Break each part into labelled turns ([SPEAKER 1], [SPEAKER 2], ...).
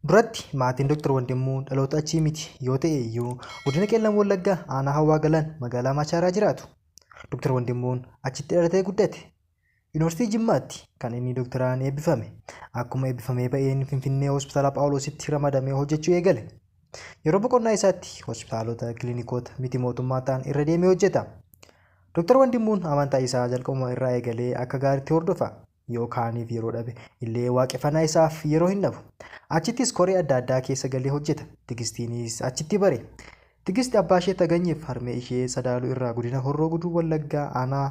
[SPEAKER 1] Duratti maatiin Dr. Wandimmuu dhaloota achii miti yoo ta'e iyyuu godina Qellam Wallaggaa aanaa Hawaa Galaan magaalaa Maachaaraa jiraatu. Dr. Wandimmuun achitti dhalatee guddate. Yuunivarsiitii Jimmaatti kan inni doktoraan eebbifame. Akkuma eebbifamee ba'een Finfinnee Hospitaala Phaawuloositti ramadamee hojjechuu eegale. Yeroo boqonnaa isaatti hospitaalota, kilinikoota miti mootummaa ta'an irra deemee hojjeta. Dr. Wandimmuun amantaa isaa jalqabuma irraa eegalee akka gaariitti hordofa. yoo kaaniif yeroo dhabe illee waaqeffanaa isaaf yeroo hin dhabu. Achittis koree adda addaa keessa galee hojjeta. Tigistiinis achitti bare. Tigist abbaa ishee Taganyiif harmee ishee Sadaaluu irraa godina Horroo Guduruu Wallaggaa aanaa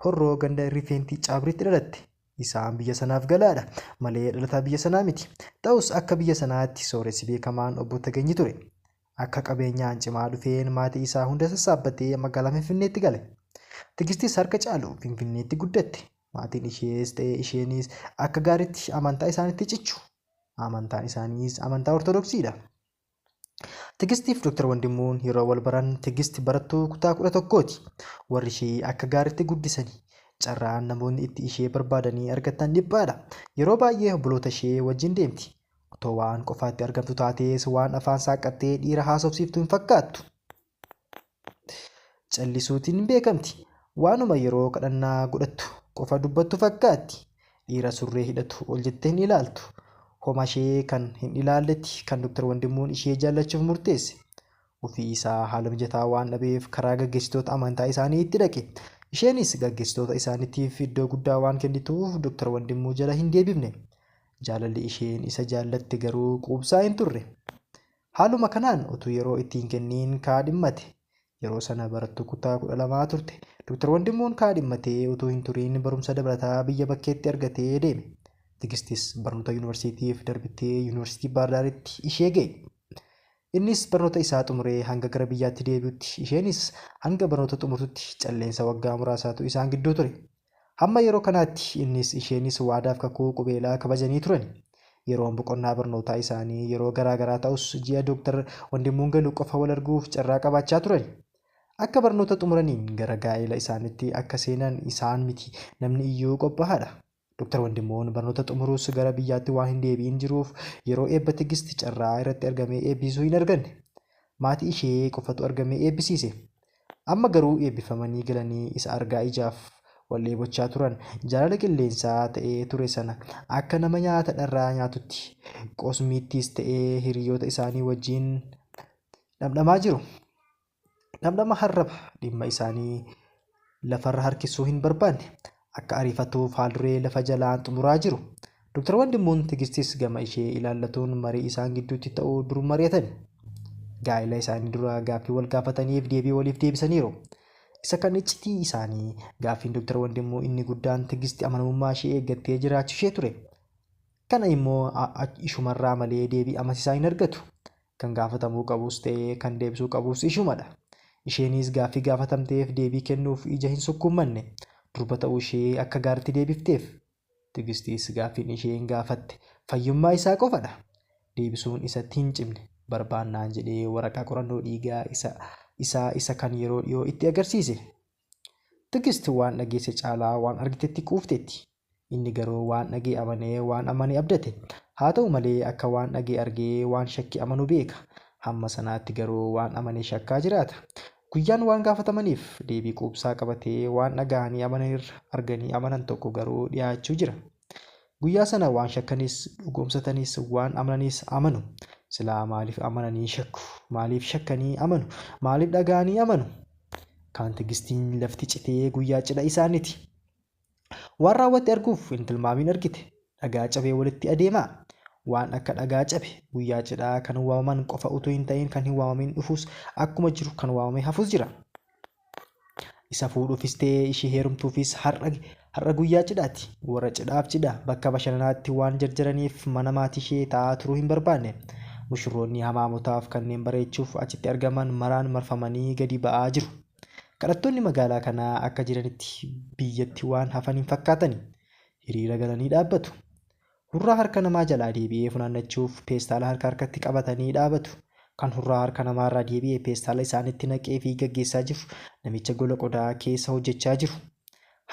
[SPEAKER 1] Horroo ganda Rifeentii Caabriitti dhalatte. Isaan biyya sanaaf galaadha malee dhalataa biyya sanaa miti. Ta'us akka biyya sanaatti sooressi beekamaan obbo Taganyi ture. Akka qabeenyaan cimaa dhufeen maatii isaa hunda sassaabbatee magaalaa Finfinneetti gale. Tigistis harka caalu Finfinneetti guddatte. Maatiin ishees ta'e isheenis akka gaariitti amantaa isaanitti cichu. Amantaan isaaniis amantaa Ortodoksiidha. Tigistiif Dr. Wandimmuun yeroo wal baran Tigist barattuu kutaa 11ti. Warri ishee akka gaariitti guddisani. Carraan namoonni itti ishee barbaadanii argatan dhiphaadha. Yeroo baay'ee obboloota ishee wajjin deemti. Otoo waan qofaatti argamtu taatees waan afaan saaqqattee dhiira haasofsiiftu hin fakkaattu. Callisuutiin beekamti. Waanuma yeroo kadhannaa godhattu qofa dubbattu fakkaatti. Dhiira surree hidhatu ol jettee hin ilaaltu. Homashee kan hin ilaalletti kan Dr. Wandimmuun ishee jaallachuuf murteesse. Ofii isaa haala mijataa waan dhabeef karaa gaggeessitoota amantaa isaanii itti dhaqe. Isheenis gaggeessitoota isaaniitiif iddoo guddaa waan kennituuf Dr. Wandimmuu jala hin deebifne. Jaalalli isheen isa jaallatte garuu quubsaa hin turre. Haaluma kanaan utuu yeroo itti hin kenniin kaadhimmate. Yeroo sana barattuu kutaa 12 turte. Dr. Wandimmuun kaadhimmatee utuu hin turiin barumsa dabalataa biyya bakkeetti argatee deeme. Tigistis barnoota yuunivarsiitiif darbitee Yuunivarsiitii Baardaaritti ishee ga'e. Innis barnoota isaa xumuree hanga gara biyyaatti deebi'utti, isheenis hanga barnoota xumurtutti calleensa waggaa muraasaatu isaan gidduu ture. Hamma yeroo kanaatti innis isheenis waadaaf kakuu qubeelaa kabajanii turani. Yeroon boqonnaa barnootaa isaanii yeroo garaa garaa ta'us ji'a Doktar Wandimmuun galu qofa wal arguuf carraa qabaachaa turani. Akka barnoota xumuraniin gara gaa'eela isaanitti akka seenan isaan miti namni iyyuu qophaahaadha. Doktar Wandimmuun barnoota xumuruus gara biyyaatti waan hin deebi'in jiruuf yeroo eebba Tigist carraa irratti argamee eebbiisuu hin arganne. Maatii ishee qofatu argamee eebbisiise. Amma garuu eebbifamanii galanii isa argaa ijaaf wal dheebochaa turan. Jaalala qilleensaa ta'ee ture sana akka nama nyaata dharraa nyaatutti Qosmiittiis ta'ee hiriyoota isaanii wajjin dhamdhamaa jiru. Dhamdhama harraba dhimma isaanii lafarra harkisuu hin barbaanne. akka ariifatuuf haalduree lafa jalaan xumuraa jiru. Doktar Wandimmuun Tigistis gama ishee ilaallatuun marii isaan gidduutti ta'u dur mari'atani. Gaa'ila isaanii dura gaaffii wal gaafataniif deebii waliif deebisaniiru. Isa kan iccitii isaanii gaaffiin Doktar Wandimmuu inni guddaan Tigisti amanamummaa ishee eeggattee jiraachu ishee ture. Kana immoo ishumarraa malee deebii amasisaa hin argatu. Kan gaafatamuu qabus ta'ee kan deebisuu qabus ishumadha. Isheenis gaaffii gaafatamteef deebii kennuuf ija hin sukkuummanne. Durba ta'uu ishee akka gaaritti deebifteef. Tigistis gaaffiin isheen gaafatte fayyummaa isaa qofadha. Deebisuun isatti hin cimne. Barbaannaan jedhee waraqaa qorannoo dhiigaa isa isaa isa kan yeroo dhiyoo itti agarsiise. Tigist waan dhageesse caalaa waan argitetti quufteetti. Inni garuu waan dhaga'e amane, waan amane abdate. Haa ta'u malee, akka waan dhaga'e argee waan shakke amanu beeka. Hamma sanaatti garuu waan amane shakkaa jiraata. Guyyaan waan gaafatamaniif, deebii quubsaa qabatee waan dhaga'anii amanan irra arganii amanan tokko garuu dhiyaachuu jira. Guyyaa sana waan shakkanis, dhugoomsatanis, waan amananis amanu. Silaa maaliif amananii shakku? Maaliif shakkanii amanu? Maaliif dhaga'anii amanu? Kaan tigistiin lafti citee guyyaa cidha isaaniti. Waan raawwatte arguuf hin tilmaamiin argite dhagaa cabee walitti adeemaa? Waan akka dhagaa cabe guyyaa cidhaa kan waamaman qofa utuu hin ta'in kan hin waamamiin dhufuus akkuma jiru kan waamamee hafus jira. Isa fuudhuufis ta'e ishii heerumtuufis har'a har'a guyyaa cidhaati. Warra cidhaaf cidha bakka bashannanaatti waan jarjaraniif mana maatii ishee taa'aa turuu hin barbaanne. Mushurroonni hamaamotaaf kanneen bareechuuf achitti argaman maraan marfamanii gadi ba'aa jiru. Kadhattoonni magaalaa kanaa akka jiranitti biyyatti waan hafan hin fakkaatani. Hiriira galanii dhaabbatu. Hurraa harka namaa jalaa deebi'ee funaannachuuf peestaala harka harkatti qabatanii dhaabatu. Kan hurraa harka namaarraa deebi'e peestaala isaanitti naqeefii gaggeessaa jiru namicha gola qodaa keessa hojjechaa jiru.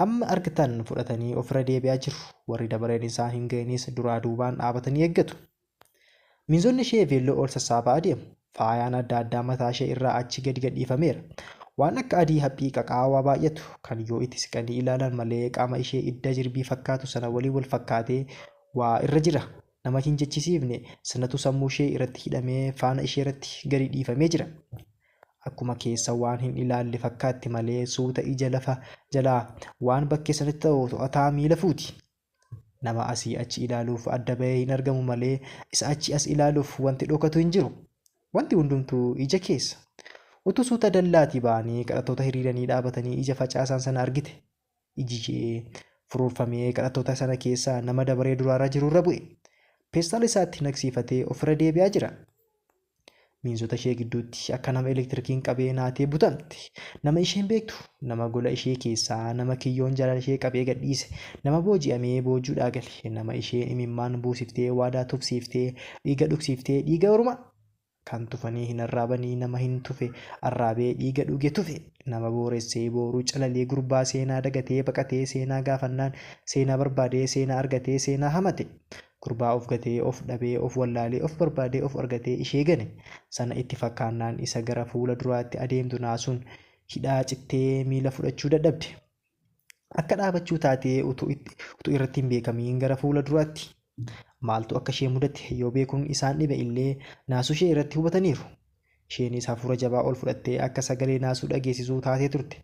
[SPEAKER 1] Hamma argtan fudhatanii ofirra deebi'aa jiru. Warri dabareen isaa hin ga'inis duraa duubaan dhaabatanii eeggatu. Miinzonni ishee veelloo ol sassaabaa adeemu. Faayaan adda addaa mataa ishee irraa achi gadi gadhiifameera. Waan akka adii haphii qaqaawaa baay'atu, kan yoo itti siqanii ilaalan malee qaama ishee idda jirbii fakkaatu sana waliin wal fakkaatee waa irra jira. Nama hin jechisiifne sanatu sammuu ishee irratti hidhamee faana ishee irratti gadi dhiifamee jira. Akkuma keessa waan hin ilaalle fakkaatti malee suuta ija lafa jalaa waan bakkee sanatti ta'u to'ataa miila fuuti. Nama asii achi ilaaluuf adda bahee hin argamu malee isa achi as ilaaluuf wanti dhokatu hin jiru. Wanti hundumtuu ija keessa. Utuu suuta dallaatii ba'anii kadhattoota hiriiranii dhaabatanii ija facaasaan sana argite. Iji ishee furuurfamee kadhattoota sana keessa nama dabaree duraarra jirurra bu'e. Peestaala isaatti naqsiifatee ofirra deebi'aa jira. Miinzota ishee gidduutti akka nama elektirikiin qabee naatee butamte. Nama isheen beektu, nama gola ishee keessaa, nama kiyyoon jaalala ishee qabee gadhiise, nama booji'amee boojuudhaa gale, nama isheen imimmaan buusiftee waadaa tufsiiftee, dhiiga dhugsiiftee, dhiiga ormaa kan tufanii hin arraabanii nama hin tufe arraabee dhiiga dhuge tufe, nama booressee booruu calalee gurbaa seenaa dagatee baqatee seenaa gaafannaan seenaa barbaadee seenaa argatee seenaa hamate. Gurbaa of gatee, of dhabee, of wallaalee, of barbaadee, of argatee ishee gane sana itti fakkaannaan isa gara fuula duraatti adeemtu naasuun hidhaa cittee miila fudhachuu dadhabde. Akka dhaabachuu taatee utuu irratti hin beekamiin gara fuula duraatti. Maaltu akka ishee mudate yoo beekuun isaan dhibe illee naasuu ishee irratti hubataniiru. Isheenis hafuura jabaa ol fudhattee akka sagalee naasuu dhageessisuu taatee turte.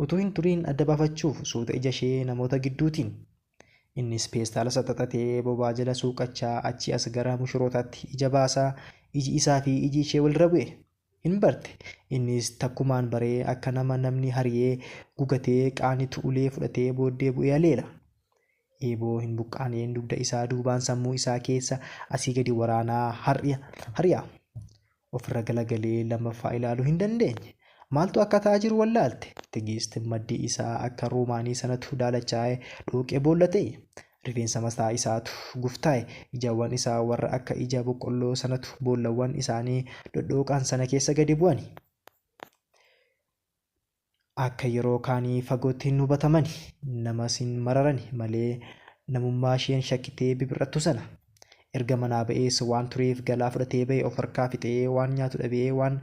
[SPEAKER 1] Utuu hin turiin adda baafachuuf suuta ija ishee namoota gidduutiin. Innis peestaala saxaxatee bobaa jala suuqachaa achii as gara mushurootaatti ija baasa. Iji isaa fi iji ishee walirra bu'e. Hin barte. Innis takkumaan baree akka nama namni hariyee gugatee qaanitu ulee fudhatee booddee bu'ee aleela. Eeboo hin buqqaaneen dugda isaa duubaan sammuu isaa keessa asii gadi waraanaa hari'a. Ofirra galagalee lammaffaa ilaaluu hin dandeenye. Maaltu akka ta'aa jiru wallaalte. Tigiist maddii isaa akka roomaanii sanatu daalachaa'e, dhooqee boolla ta'e. Rifeensa mataa isaatu guftaa'e. Ijawwan isaa warra akka ija boqqolloo sanatu boollawwan isaanii dhodhooqan sana keessa gadi bu'ani. Akka yeroo kaanii fagootti hin hubatamani. Namas hin mararani malee namummaa isheen shakkitee bibir'attu sana. Erga manaa ba'ees waan tureef galaa fudhatee ba'e of harkaa fixee waan nyaatu dhabee waan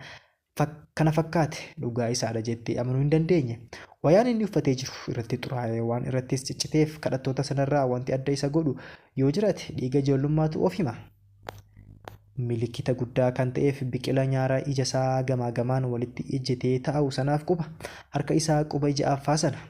[SPEAKER 1] kana fakkaate dhugaa isaadha jettee amanuu hin dandeenye. Wayaan inni uffatee jiru irratti xuraa'ee waan irrattis cicciteef kadhattoota sanarraa wanti adda isa godhu yoo jiraate dhiiga ijoollummaatu of hima. Milikita guddaa kan ta'eef biqila nyaara ija isaa gamaa gamaan walitti ejjetee taa'u sanaaf quba harka isaa quba ija affaa sana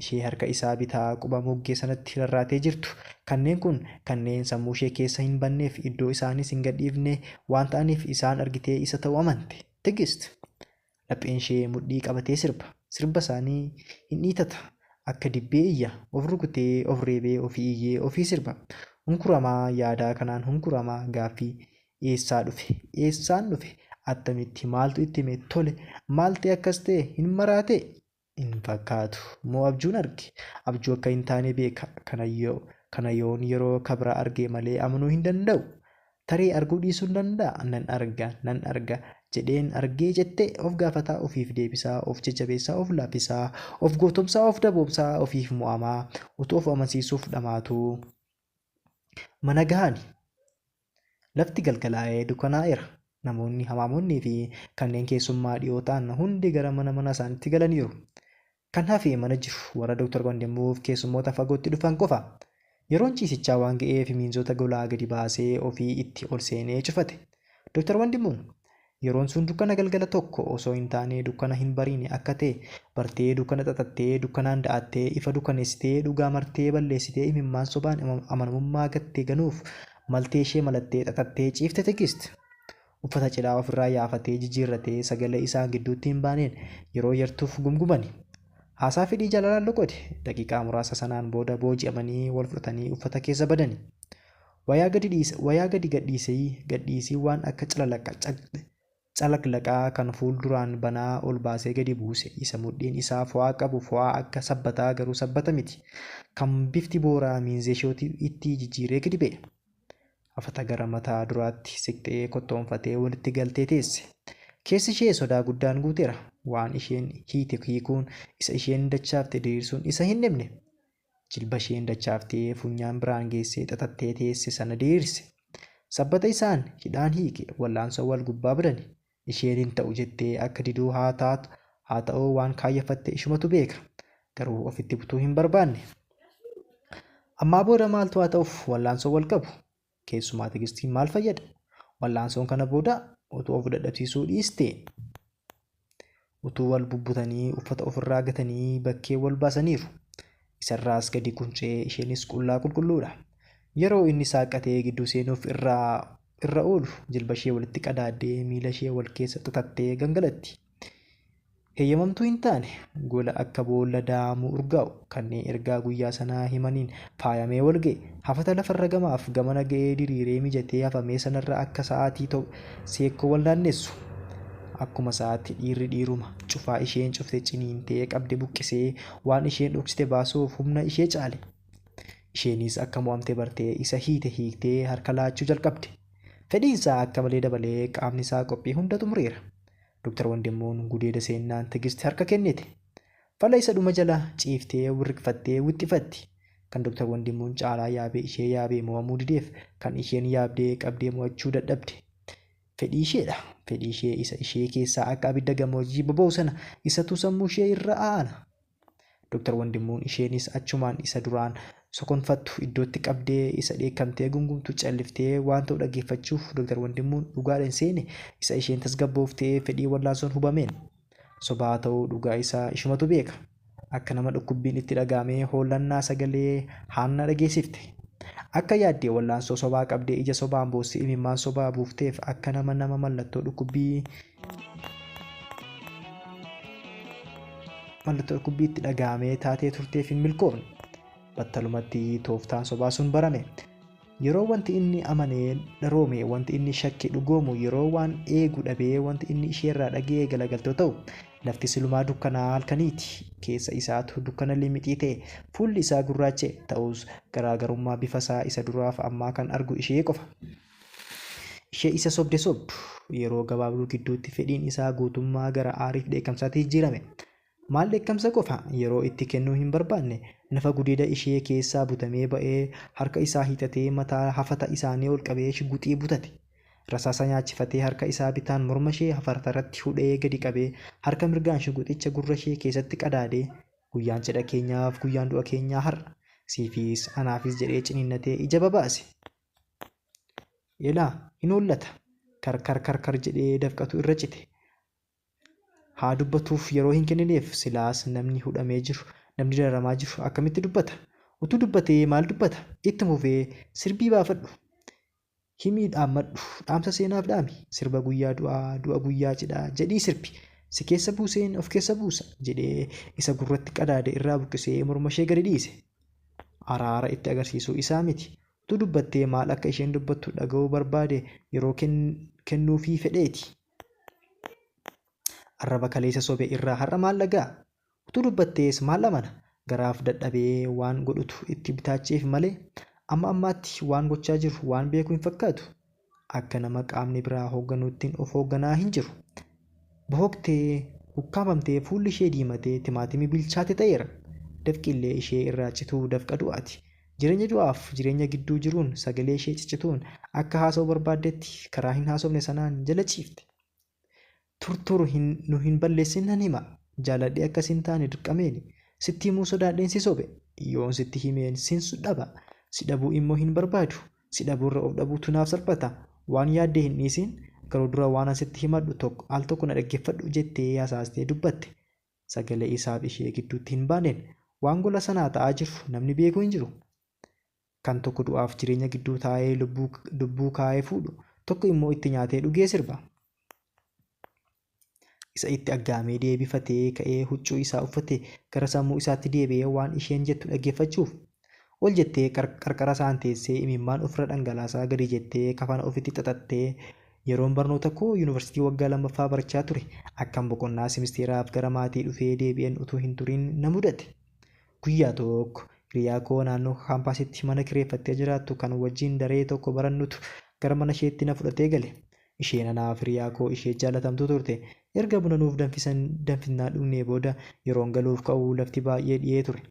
[SPEAKER 1] ishee harka isaa bitaa quba moggee sanatti rarraatee jirtu. Kanneen kun kanneen sammuu ishee keessa hin banneef iddoo isaaniis hin gadhiifne waan ta'aniif isaan argitee isa ta'u amante. Tigist. Lapheen ishee mudhii qabatee sirba. Sirba isaanii hin dhiitata. Akka dibbee iyya. Of rukutee, of reebee, ofii iyyee, ofii sirba. Hunkuramaa yaadaa kanaan hunkurama. Gaaffii, Eessaa dhufe? Eessaan dhufe? Attamitti? Maaltu itti hime? Tole! Maal ta'e akkas ta'e? Hin maraatee? hin fakkaatu. Moo abjuun arge? Abjuu akka hin taane beeka. Kana yoo, kana yoon yeroo ka biraa arge malee amanuu hin danda'u. Tarii arguu dhiisuun danda'a. Nan arga, nan arga. Jedheen argee jette of gaafataa, ofiif deebisaa, of jajjabeessaa, of laaffisaa, of gootomsaa, of daboomsaa, ofiif mo'amaa, utuu of amansiisuuf dhamaatuu. Mana gahani. Lafti galgalaa'ee dukanaa'eera. Namoonni hamaamonnii fi kanneen keessummaa dhiyoo ta'an hundi gara mana mana isaanitti galaniiru. Kan hafe mana jiru warra Dr. Wandimuuf keessummoota fagootti dhufan qofa. Yeroon ciisichaa waan ga'eef miinzota golaa gadi baasee ofii itti ol seenee cufate. Dr. Wandimuun Yeroon sun dukkana galgala tokko osoo hin taane dukkana hin bariine akka ta'e bartee dukkana xaxattee dukkanaan da'attee ifa dukkaneessitee dhugaa martee balleessitee imimmaan sobaan amanamummaa gatte ganuuf maltee ishee malattee xaxattee ciifte Tigist. Uffata cidhaa of irraa yaafatee jijiirratee sagalee isaan gidduutti hin baaneen yeroo yartuuf gumgumani. Haasaa fedhii jaalalaan loqode. Daqiiqaa muraasa sanaan booda booji'amanii wal fudhatanii uffata keessa badani. Wayaa gadi dhiis wayaa gadi gadhiisii gadhiisii waan akka calalaqqa caq calaglaqaa kan fuul duraan banaa ol baasee gadi buuse isa mudhiin isaa fo'aa qabu fo'aa akka sabbataa garuu sabbata miti kan bifti booraa miinzeeshooti ittii jijjiiree gadi ba'e afata gara mataa duraatti siqxee kottoonfatee walitti galtee teesse keessi ishee sodaa guddaan guuteera waan isheen hiite hiikuun isa isheen dachaafte diriirsuun isa hin dhibne Jilbasheen dachaaftee funyaan biraan geessee xaxattee teesse sana diriirse. Sabbata isaan hidhaan hiike wal'aansoo wal gubbaa badani. Isheen hin ta'u jettee akka diduu haa taatu haa ta'uu waan kaayyafatte ishumatu beeka. Garuu ofitti butuu hin barbaanne. Ammaa booda maaltu haa ta'uuf wal'aansoo wal qabu. Keessumaa tigistiin maal fayyada? Wal'aansoon kana booda utuu of dadhabsiisuu dhiiste, utuu wal bubbutanii uffata ofirraa gatanii bakkee wal baasaniiru. Isarraas gadi quncee isheenis qullaa qulqulluudha. Yeroo inni saaqqatee gidduu seenuuf irra irra oolu jilba ishee walitti qadaaddee miila ishee wal keessa xaxattee gangalatti. Heyyamamtuu hin taane, gola akka boolla daa'amuu urgaa'u, kanneen ergaa guyyaa sanaa himaniin faayamee wal ga'e, hafata lafarra gamaaf gamana ga'ee diriiree mijatee hafamee sanarra akka sa'aatii to, seekkoo wal naannessu. Akkuma sa'aatti dhiirri dhiiruma, cufaa isheen cufte ciniintee qabde buqqisee, waan isheen dhoksite baasuuf humna ishee caale. Isheenis akka mo'amte bartee isa hiite hiiktee harka laachuu jalqabde. Fedhiinsaa akka malee dabalee qaamnisaa qophii hunda xumureera. Doktar Wandimmuun gudeeda seennaan Tigisti harka kennite. Fala isa dhuma jala ciiftee wirriqfattee wixxifatti. Kan Doktar Wandimmuun caalaa yaabee ishee yaabee mo'amuu dideef kan isheen yaabdee qabdee mo'achuu dadhabde. Fedhii isheedha. Fedhii ishee isa ishee keessaa akka abidda gammoojjii boba'u sana isatu sammuu ishee irra aana. Doktar Wandimmuun isheenis achumaan isa duraan sokonfattu iddootti qabdee isa dheekkamtee gungumtu calliftee waan ta'u dhaggeeffachuuf Doktar Wandimmuun dhugaadha hin seene isa isheen tasgabbooftee fedhii wallaansoon hubameen. Soba haa ta'uu dhugaa isaa ishumatu beeka. Akka nama dhukkubbiin itti dhaga'amee hoollannaa sagalee haannaa dhageessifte. Akka yaadde wallaansoo sobaa qabdee ija sobaan boossee imimmaan sobaa buufteef akka nama nama mallattoo dhukkubbii Mallattoo dhukkubbii itti dhaga'amee taatee turteef hin milkoofne. Battalumatti tooftaan sobaa sun barame. Yeroo wanti inni amanee dharoome, wanti inni shakke dhugoomu, yeroo waan eegu dhabee wanti inni isheerraa dhaga'ee galagaltoo ta'u, lafti silumaa dukkanaa halkaniiti. Keessa isaatu dukkana limixii ta'e, fuulli isaa gurraacha'e, ta'us garaagarummaa bifa isaa isa duraaf ammaa kan argu ishee qofa. Ishee isa sobde sobdu. Yeroo gabaabduu gidduutti fedhiin isaa guutummaa gara aariif dheekkamsaatti jijjiirame. Maal dheekkamsa qofa? Yeroo itti kennuu hin barbaanne. Nafa gudeeda ishee keessaa butamee ba'ee harka isaa hiixatee mataa hafata isaanii ol qabee shigguxii butate. Rasaasa nyaachifatee harka isaa bitaan morma ishee hafatarratti hudhee gadi qabee harka mirgaan shigguxicha gurra ishee keessatti qadaadee Guyyaan cidha keenyaaf guyyaan du'a keenyaa har'a. Siifis anaafis jedhee ciniinnatee ija babaase. Ilaa hin hollata. Karkar karkar jedhee dafqatu irra cite. Haa dubbatuuf yeroo hin kennineef silaas namni hudhamee jiru, namni dararamaa jiru akkamitti dubbata? Utuu dubbatee maal dubbata? Itti fufee sirbii baafadhu. Himii dhaammadhu. Dhaamsa seenaaf dhaami. Sirba guyyaa du'aa, du'a guyyaa cidhaa jedhii sirbi. Si keessa buuseen of keessa buusa jedhee isa gurratti qadaade irraa buqqisee mormashee gadi dhiise. Araara itti agarsiisuu isaa miti. Utuu dubbattee maal akka isheen dubbattu dhaga'uu barbaade yeroo kennuufii fedheeti. Arraba kaleessa sobe irraa har'a maal dhaga'a? Utuu dubbattees maal amana? Garaaf dadhabee waan godhutu itti bitaacheef malee amma ammaatti waan gochaa jiru waan beeku hin fakkaatu. akka nama qaamni biraa hoogganuuttiin of hoogganaa hin jiru. Bohoqtee, ukkaamfamtee, fuulli ishee diimatee timaatimii bilchaate ta'eera. Dafqi illee ishee irraa cituu dafqa du'aati. Jireenya du'aaf jireenya gidduu jiruun sagalee ishee ciccituun akka haasa'uu barbaaddetti karaa hin haasofne sanaan jala ciifte. Turturu hin nu hin balleessin nan hima jaaladhee akka sin taane dirqameeni sitti himuu sodaadheen si sobe yoon sitti himeen sin dhaba si dhabuu immoo hin barbaadu si dhabuurra of dhabuutu naaf salphata waan yaadde hin dhiisiin garuu dura waanan sitti himadhu tokko al tokko na dhaggeffadhu jettee hasaastee dubbatte sagalee isaaf ishee gidduutti hin baaneen waan gola sanaa ta'aa jiru namni beeku hin jiru Kan tokko du'aaf jireenya gidduu taa'ee lubbuu, lubbuu kaa'ee fuudhu, tokko immoo itti nyaatee dhugee sirba. Isa itti aggaamee deebifatee ka'ee huccuu isaa uffatee gara sammuu isaatti deebi'ee waan isheen jettu dhaggeeffachuuf ol jettee qar- qarqara isaan teessee imimmaan ofirra dhangalaasaa gadi jettee kafana ofitti xaxattee yeroon barnoota koo yuunivarsiitii waggaa lammaffaa barachaa ture akkan boqonnaa simisteeraaf gara maatii dhufee deebi'een utuu hin turin na mudate. Guyyaa tokko hiriyaa koo naannoo kaampaasitti mana kireeffattee jiraattu kan wajjin daree tokko barannutu gara mana isheetti na fudhatee gale. Isheen anaaf hiriyaa koo ishee jaallatamtuu turte. Erga buna nuuf danfisan danfisnaa dhugnee booda yeroon galuuf ka'u lafti baay'ee dhiyee ture.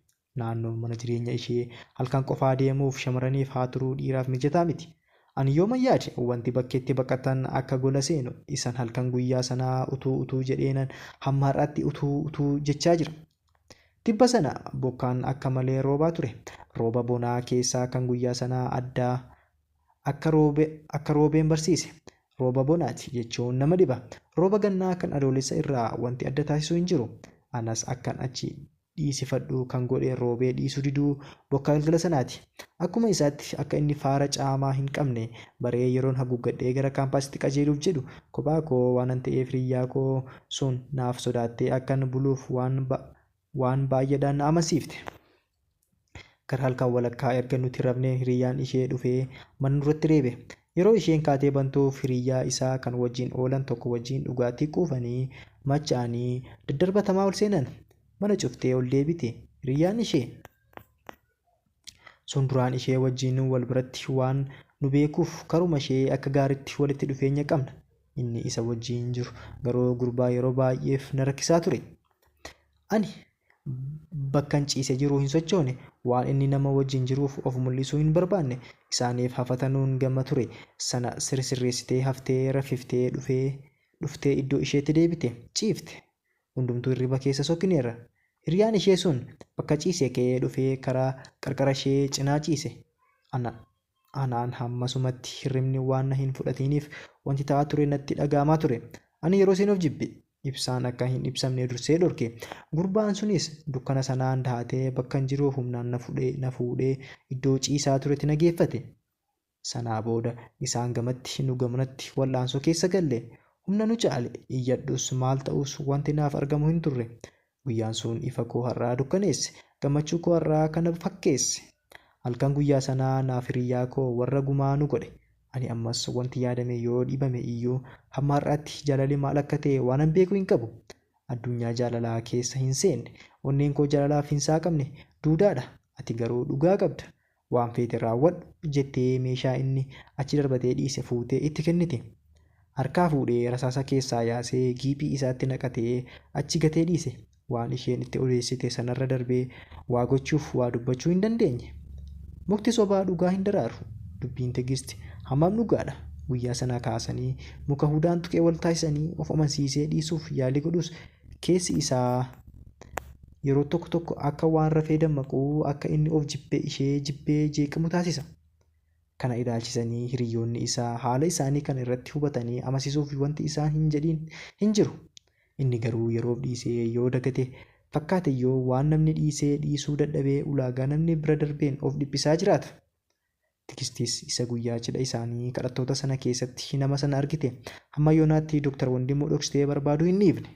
[SPEAKER 1] Naannoon mana jireenya ishee halkan qofaa deemuuf shamarraniif haa turuu dhiiraaf mijataa miti. Ani yooman yaade wanti bakkeetti baqatan akka gola seenu isan halkan guyyaa sanaa utuu utuu jedheenan hamma har'aatti utuu utuu jechaa jira. Tibba sana bokkaan akka malee roobaa ture. Rooba bonaa keessaa kan guyyaa sanaa adda akka roobe akka roobeen barsiise. Rooba bonaati jechuun nama dhiba. Rooba gannaa kan Adoolessa irraa wanti adda taasisu hin jiru. Anas akkan achi dhiisifadhu kan godhe roobee dhiisuu diduu bokkaa galgala sanaati. Akkuma isaatti akka inni faara caamaa hin qabne baree yeroon haguuggadhee gara kaampaasitti qajeeluuf jedhu kophaa koo waanan ta'eef hiriyyaa koo sun naaf sodaattee akkan buluuf waan waan baay'eedhaan na amansiifte. Gara halkan walakkaa erga nuti rafnee hiriyyaan ishee dhufee mana nurratti reebe. Yeroo isheen kaatee bantuuf hiriyyaa isaa kan wajjin oolan tokko wajjin dhugaatii quufanii macha'anii daddarbatamaa ol seenan. Mana cuftee ol deebite hiriyyaan ishee. Sun duraan ishee wajjin wal biratti waan nu beekuuf karuma ishee akka gaaritti walitti dhufeenya qabna. Inni isa wajjin jiru garuu gurbaa yeroo baay'eef na rakkisaa ture. Ani bakkan ciise jiru hin sochoone, waan inni nama wajjin jiruuf of mul'isuu hin barbaanne. Isaaniif hafatanuun gama ture sana sirsirreessitee haftee raffiftee dhufee dhuftee iddoo isheetti deebite. Ciifte. Hundumtuu hirriba keessa sokkineerra. Hiriyaan ishee sun bakka ciisee ka'ee dhufee karaa qarqara ishee cinaa ciise. Ana, anaan hammasumatti hirribni waan na hin fudhatiiniif wanti ta'aa ture natti dhaga'amaa ture. Ani yeroosin of jibbe. Ibsaan akka hin ibsamne dursee dhorke. Gurbaan sunis dukkana sanaan dahatee bakkan jiru humnaan na fudhee, na fuudhee iddoo ciisaa turetti na geeffate. Sanaa booda isaan gamatti nu gamanatti wal'aansoo keessa galle. Humna nu caale. Iyyadhus maal ta'us wanti naaf argamu hin turre. Guyyaan sun ifa koo har'aa dukkaneesse. Gammachuu koo har'aa kana fakkeesse. Halkan guyyaa sanaa naaf hiriyyaa koo warra gumaa nu godhe. Ani ammas wanti yaadame yoo dhibame iyyuu hamma har'aatti jaalalli maal akka ta'e waanan beeku hin qabu. Addunyaa jaalalaa keessa hin seenne. Onneen koo jaalalaaf hin saaqamne. Duudaadha. Ati garuu dhugaa qabda. Waan feete raawwadhu jettee meeshaa inni achi darbatee dhiise fuutee itti kennite. Harkaa fuudhee rasaasa keessaa yaasee giiphii isaatti naqatee achi gatee dhiise. Waan isheen itti odeessite sanarra darbee waa gochuuf waa dubbachuu hin dandeenye. Mukti sobaa dhugaa hin daraaru. Dubbiin Tigist hammam dhugaadha? Guyyaa sanaa kaasanii muka hudaan tuqee wal taasisanii of amansiisee dhiisuuf yaalii godhus Keessi isaa yeroo tokko tokko akka waan rafee dammaqu, akka inni of jibbee ishee jibbee jeeqamu taasisa. Kana ilaalchisanii hiriyyoonni isaa haala isaanii kana irratti hubatanii amasisuuf wanti isaan hin jedhiin hin jiru. Inni garuu yeroof dhiisee yoo dagate fakkaateyyuu waan namni dhiisee dhiisuu dadhabee ulaagaa namni bira darbeen of dhiphisaa jiraata. Tigistis isa guyyaa cidha isaanii kadhattoota sana keessatti nama sana argite. Hamma yoonaatti Dr. Wandimuu dhoksitee barbaaduu hin dhiifne.